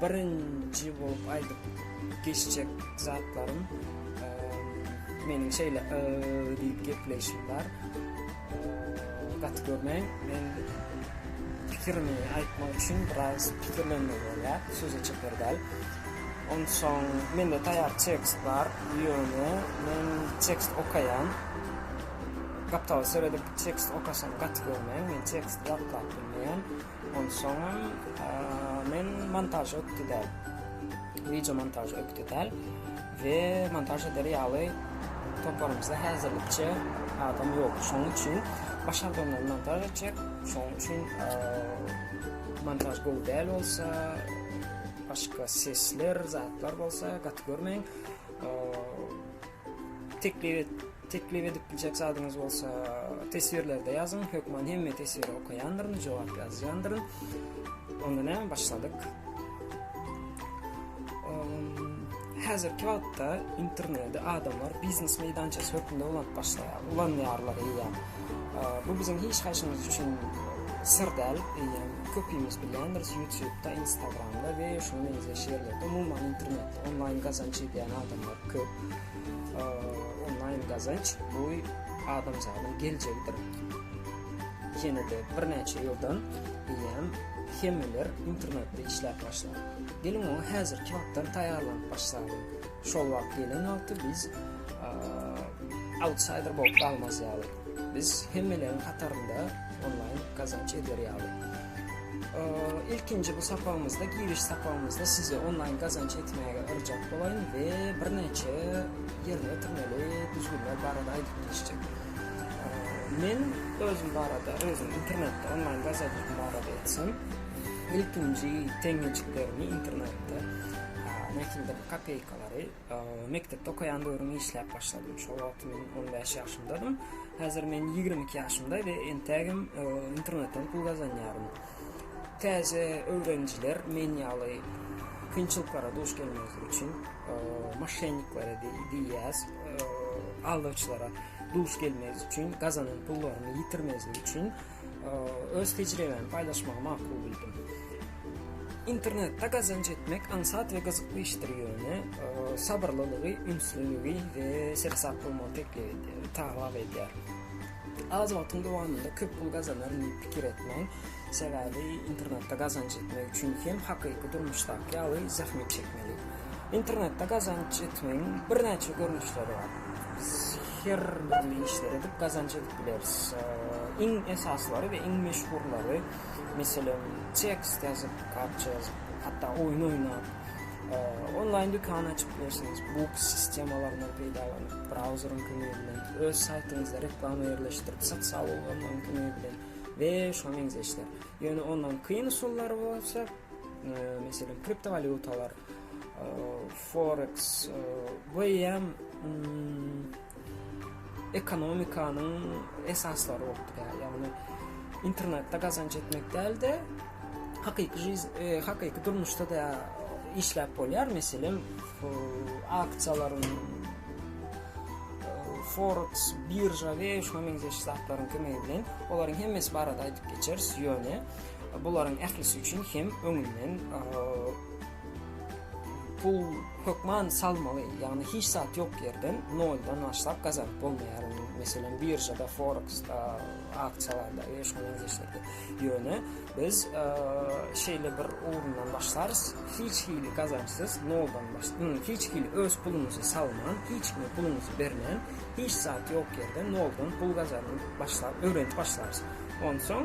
Birinji bolup aýdyp geçjek zatlarym meniň şeýle yy diýip gepleýşim bar. Gaty görmäň, men pikirimi aýtmak üçin biraz pikirlenmeli bolýar, söze çeper däl. Onsoň mende taýýar tekst bar, ýöne men tekst okaýan. Gapdala seredip tekst okasaň gaty görmäň, men tekst ýatlap bilmeýän. Onsoňam men montaž ökde däl. Wideo montaž ökde däl we montaž eder ýaly toparymyzda häzirlikçe adam ýok. Şonuň üçin başardygymy montaž etjek. Şonuň üçin montaž gowy däl bolsa, başga sesler, zatlar bolsa gaty görmäň. Teklip et. Teklip edip biljek zadyňyz bolsa teswirlerde ýazyň. Hökman hemme teswiri okaýandyryn, jogap ýazýandyryn. Onda näme başladyk? Häzirki wagtda interneti adamlar biznes meýdançasy hökmünde ulanyp başlaýar, ulanýarlar eýýäm. Bu biziň hiç haýsymyz üçin syr däl, eýýäm köpimiz bilýändiris YouTube-da, Instagram-da we şunuň meňzeş ýerlerde umuman internetde onlaýn gazanç edýän adamlar köp. Onlaýn gazanç bu adamzadyň geljegidir. Ýene-de birnäçe ýyldan eýýäm hemmeler internetde işläp başlar. Geliň oňa häzirki wagtdan taýýarlanyp başlalyň. Şol wagt gelen wagty biz outsider bolup galmaz ýaly. Biz hemmeleriň hatarynda onlaýn gazanç eder ýaly. Ilkinji bu sapagymyzda, giriş sapagymyzda sizi onlaýn gazanç etmäge yrjak bolaýyn we birnäçe ýerine ýetirmeli düzgünler barada aýdyp geçjek. Men özüm barada, özüm internetde onlaýn gazanjym barada etsem, ilkinji teňňejiklerimi internetde nähilidir kopeýkalary Mekdepde okaýan döwrüm işläp başladym. Şol wagt men on bäş ýaşymdadym. Häzir men ýigrimi iki ýaşymda we entägem internetden pul gazanýaryn. Täze öwrenijiler men ýaly kynçylyklara duş gelmezlik üçin maşenniklere diýýäs, aldawçylara duş gelmezlik üçin, gazanan pullaryny ýitirmezlik üçin öz tejribämi paýlaşmagy makul bildim. Internetde gazanç etmek aňsat we gyzykly işdir, ýöne sabyrlylygy, ünslüligi we seresap bolmagy teklip edýär, talap edýär. Az wagtyň dowamynda köp pul gazanaryn diýip pikir etmäň, sebäbi internetde gazanç etmek üçin hem hakyky durmuşdaky ýaly zähmet çekmeli. Internetde gazanç etmegiň birnäçe görnüşleri bar. her dürli işler edip gazanç edip bileris. Iň esaslary we iň meşhurlary, meselem, tekst ýazyp, kapça ýazyp, hatda oýun oýnap, onlaýn dükan açyp bilersiňiz. Bu sistemalaryndan peýdalanyp, brauzeriň kömegi bilen öz saýtyňyzda reklama ýerleşdirip, sosial ulgamlaryň kömegi bilen we şuňa meňzeş işler. Ýöne ondan kyn usullary bolsa, meselem, kriptowalýutalar, Foreks bu eýýäm ekonomikanyň esaslary bolup durýar. Ýagny internetde gazanç etmek däl-de, hakyky jiz, e, hakyky durmuşda da işläp bolýar. Meselem, aksiýalaryň Forex, birža we şuňa meňzeş zatlaryň kömegi bilen olaryň hemmesi barada aýdyp geçeris. Ýöne bularyň ählisi üçin hem öňünden Pul hökman salmaly, ýagny hiç zat ýok ýerden noldan başlap gazanyp bolmaýar. Meselem, biržada, foreksda, aksiýalarda we şoňa meňzeşlerde. Ýöne biz şeýle bir ugrundan başlarys, hiç hili gazançsyz, noldan başlap, hiç hili öz puluňyzy salman, hiç kime puluňyzy bermän, hiç zat ýok ýerden noldan pul gazanyp başlap, öwrenip başlarys. Onsoň.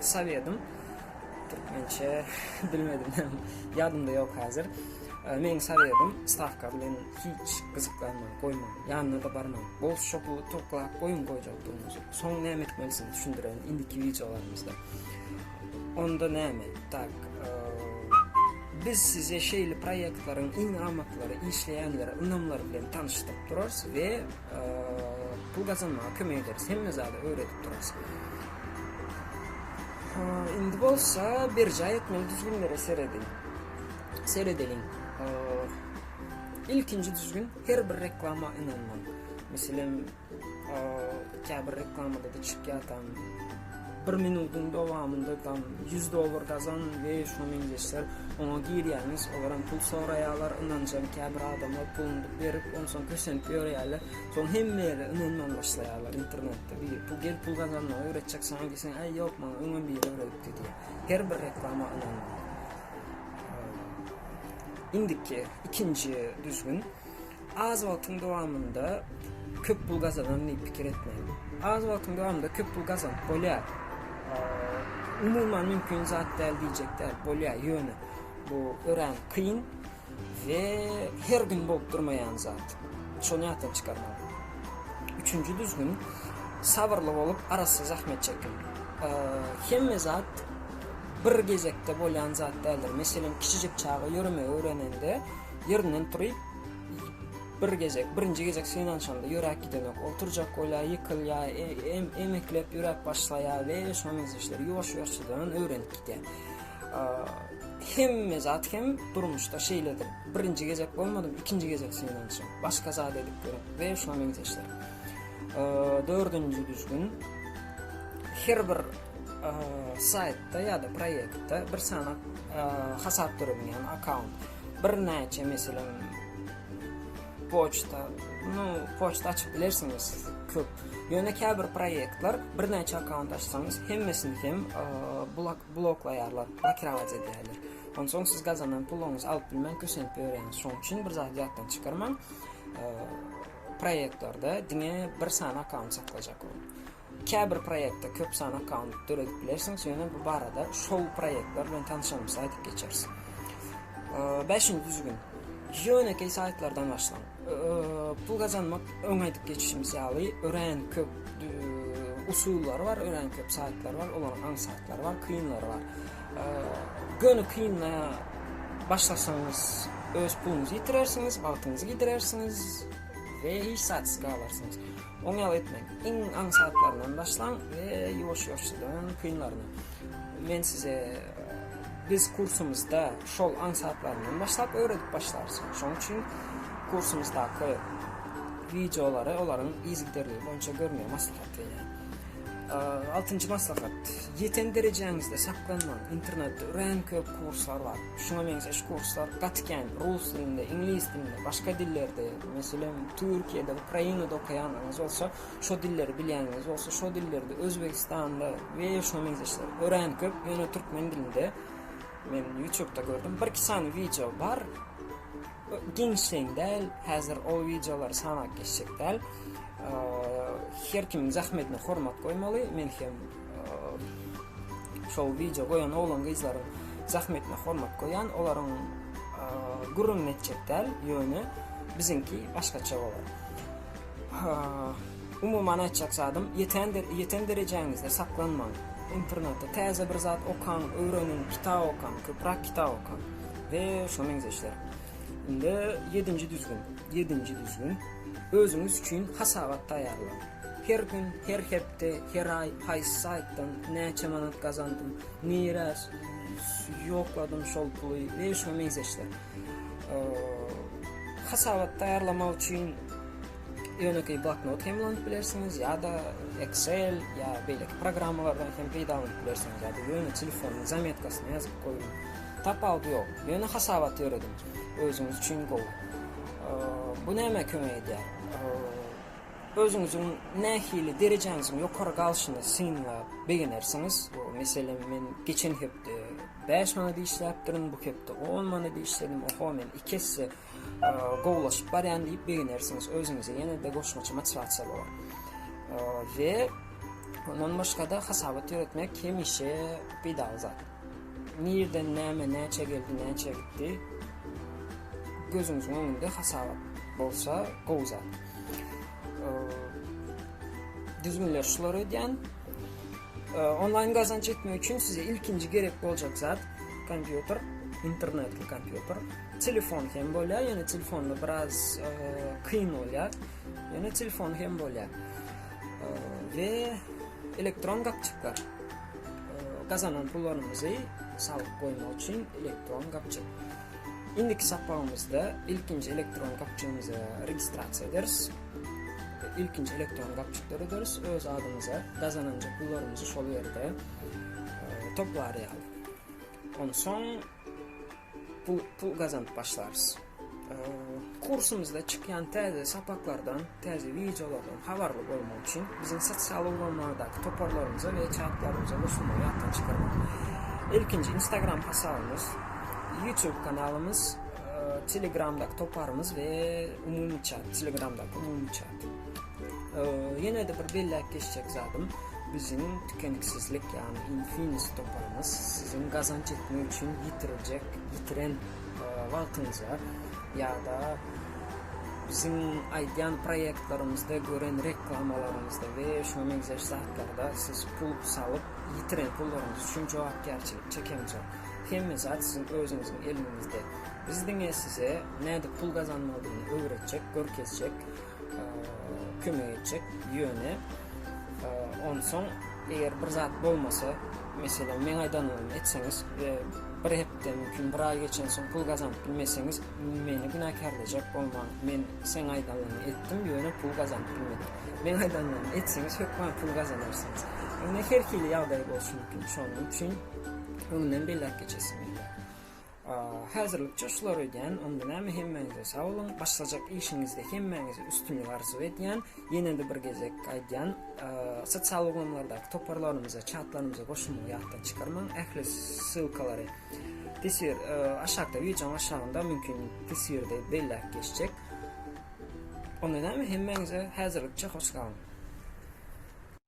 Sowedym türkmençe bilmedim hem ýadymda ýok häzir. Meň sowedym Sawka bilen hiç gyzyklanma goýmaň, ýanyna da barmaň. Bol şopy toklap goýuň goýjakdygyňyzy. Soň näme etmelisini düşündirerin indiki wideolarymyzda. Onda näme? Tak. Biz size şeýle proýektlaryň iň amatlary, işleýänleri, ynamlary bilen tanyşdyryp durarys we Pul gazanmaga kömek ederis. Hemme zady öwredip durarys. Indi bolsa berjaý etmeli düzgünlere seredin. Seredeliň. Ilkinji düzgün her bir reklama ynanmaň. Meselem, käbir reklamada da çykýatan Bir minudyň dowamynda tam ýüz dollar gazan we şuny meňzeşler. Oňa girýäňiz, olaram pul soraýarlar, ynanjam käbir adamlar puluny berip, onsoň kösenip ýörýärler. Soň hemme ýerde ynanman başlaýarlar, internetde biri, Pul gel pul gazanmagy öwretjek saňa diýseň, Äý ýok, maňa öňem biri öwredipdi diýýär. Her bir reklama ynanma. Indiki ikinji düzgün, Az wagtyň dowamynda köp pul gazanan diýip pikir etmäň. Az wagtyň dowamynda köp pul gazanyp bolýar. Umuman mümkin zat däl diýjek däl, bolýar. Ýöne bu örän kyn we her gün bolup durmaýan zat. Şony ýatdan çykarmaň. Üçünji düzgün sabyrly bolup arassa zähmet çekiň. Hemme zat bir gezekde bolýan zat däldir. Meselem, kiçijik çaga ýöremegi öwrenende ýerinden turup Bir gezek, birinji gezek synanyşanda ýöräp gidenok. Oturjak bolýar, ýykylýar, emeklep ýöräp başlaýar we şonuň işleri ýuwaş-ýuwaşjadan öwrenip gidýär. Hemme zat hem durmuşda şeýledir. Birinji gezek bolmadym, ikinji gezek synanyşym. Başga zat edip görüp we şonuň işleri. Dördünji düzgün her bir saýtda ýa-da proýektde bir sany hasap döredýän akkaunt. birnäçe meselem poçta, no poçta açyp bilersiňiz siz köp. Ýöne käbir proýektler birnäçe akkaunt açsaňyz hemmesini hem blok bloklaýarlar, blokirować edýärler. Onsoň siz gazanan puluňyzy alyp bilmän köşenip ýörýäňiz. Şoň üçin bir zat ýatdan çykarmaň. Proýektlerde diňe bir sany akkaunt saklajak ol. Käbir proýektde köp sany akkaunt döredip bilersiňiz, ýöne bu barada şol proýektler bilen tanyşanymyzda aýdyp geçeris. Bäşinji düzgün. Ýönekeý saýtlardan başlaň. Pul gazanmak öň aýdyp geçişimiz ýaly örän köp usullary bar, örän köp saýtlary bar, olaryň aň saýtlary bar, kynlary bar. Göni kynla başlasaňyz öz puluňyzy ýitirersiňiz, wagtyňyzy gidirersiňiz we hiç zat galarsyňyz. Oňýaly etmeň. Iň aňsatlaryndan başlaň we ýuwaş-ýuwaşdan kynlaryna. Men size biz kursumyzda şol aňsatlaryndan başlap öwredip başlarys. Şoň üçin kursumyzdaky wideolary olaryň yzygiderligi boýunça görmegi maslahat edýän. Altynjy maslahat. Ýeten derejäňizde saklanmaň. Internetde örän köp kurslar bar. Şuňa meňzeş kurslar gaty kän. Rus dilinde, iňlis dilinde, başga dillerde Meselem, Türkiýede, Ukrainada okaýanlaryňyz bolsa, şo dilleri bilýänleriňiz bolsa, şo dillerde Özbegistanda we şuňa meňzeşler örän köp, ýöne türkmen dilinde men ýutubda gördüm, bir-iki sany wideo bar. Giňişleýin däl, häzir o wideolary sanap geçjek däl. Her kimiň zähmetine hormat goýmaly, men hem Şol wideo goýan oglan gyzlaryň zahmetine hormat goýan, olaryň gürrüň etjek däl, ýöne biziňki başgaça bolar. Umuman aýtjak zadym, ýeten ýeten derejäňizde saklanmaň. Internetde täze bir zat okaň, öwreniň, kitap okaň, köpräk kitap okaň we şoňa meňzeşler. Indi 7-nji düzgün, 7-nji düzgün özüňiz üçin hasabat taýýarlaň. Her gün, her hepde, her aý haýsy saýtdan näçe manat gazandym, nirä ýokladym şol puly we şuňa meňzeş zat. Hasabat taýýarlamak üçin ýönekeý bloknot hem ulanyp bilersiňiz ýa-da Excel ýa beýleki programmalardan hem peýdalanyp bilersiňiz ýa-da ýöne telefonyň zametkasyna ýazyp goýuň. Tapawudy ýok. Ýöne hasabat ýörediň. Özüňiz üçin gowy. Bu nämä kömek edýär? Özüňiziň nähili derejäňiziň ýokary galşyny synlap begenersiňiz. Meselem, men geçen hepde bäş manat işläpdirin, bu hepde on manat işledim, oho, men iki esse gowulaşyp barýan diýip begenersiňiz. Özüňize ýene-de goşmaça motiwasiýa bolar. We ondan başga-da hasabat ýöretmek hemişe peýdaly zat. Nirden näme näçe geldi näçe gitdi gözüňiziň öňünde hasabat bolsa gowy zat. Düzgünler şular edýän. Onlaýn gazanç etmek üçin size ilkinji gerek boljak zat kompýuter, internetli kompýuter, telefon hem bolýar, ýöne telefonda biraz kyn bolýar. Ýöne telefon hem bolýar. We elektron gapjyklar. gazanan pullarymyzy salyk goýmak üçin elektron gapjyk. Indiki sapagymyzda ilkinji elektron gapjygymyza registrasiýa ederiz. İlkinji elektron gapjyk dörederis. Öz adymyza gazananjy pullarymyzy şol ýerde e, toplar ýaly. Onsoň Pul, pul gazanyp başlarys. Kursumyzda çykýan täze sapaklardan, täze wideolardan habarly bolmak üçin biziň sosial ulgamlardaky toparlarymyza we çatlarymyza goşulmagy ýatdan çykarmaň. Ilkinji Instagram hasabymyz, YouTube kanalymyz, Telegramdaky toparymyz we umumy çat, Telegramdaky umumy çat. Ýene-de bir belläp geçjek zadym, biziň tükeniksizlik, ýagny Infinis toparymyz siziň gazanç etmek üçin ýitiriljek, ýitiren wagtyňyza ýa-da biziň aýdýan proýektlerimizde gören reklamalaryňyzda we şuňa meňzeş zatlarda siz pul salyp, ýitiren pullaryňyz üçin jogapkärçilik çekemzok. Hemme zat siziň özüňiziň eliňizde. Biz diňe size nädip pul gazanmalydygyny öwretjek, görkezjek. kömek etjek. Ýöne onsoň eger bir zat bolmasa, meselem meň aýdanlarymdan etseňiz we bir hepde mümkin bir aý geçen soň pul gazanyp bilmeseňiz, meni günäkärlejek bolmaň. Men seň aýdanlaryňy etdim, ýöne pul gazanyp bilmedim. Meň aýdanlarymy etseňiz hökman pul gazanarsyňyz. Indi her hili ýagdaý bolşy mümkin. Şonuň üçin öňünden belläp geçesim gelýär. Häzirlikçe şulary öýdýän, onda näme hemmäňize sag boluň, başlajak işiňizde hemmäňize üstünlik arzuw edýän, ýenede bir gezek aýdýan sosial ulgamlardaky toparlarymyza, çatlarymyza goşulmagy ýatdan çykarmaň, ähli ssylkalary teswir aşakda wideonyň aşagynda mümkin teswirde belläp geçjek. Onda näme hemmäňize häzirlikçe hoş galyň.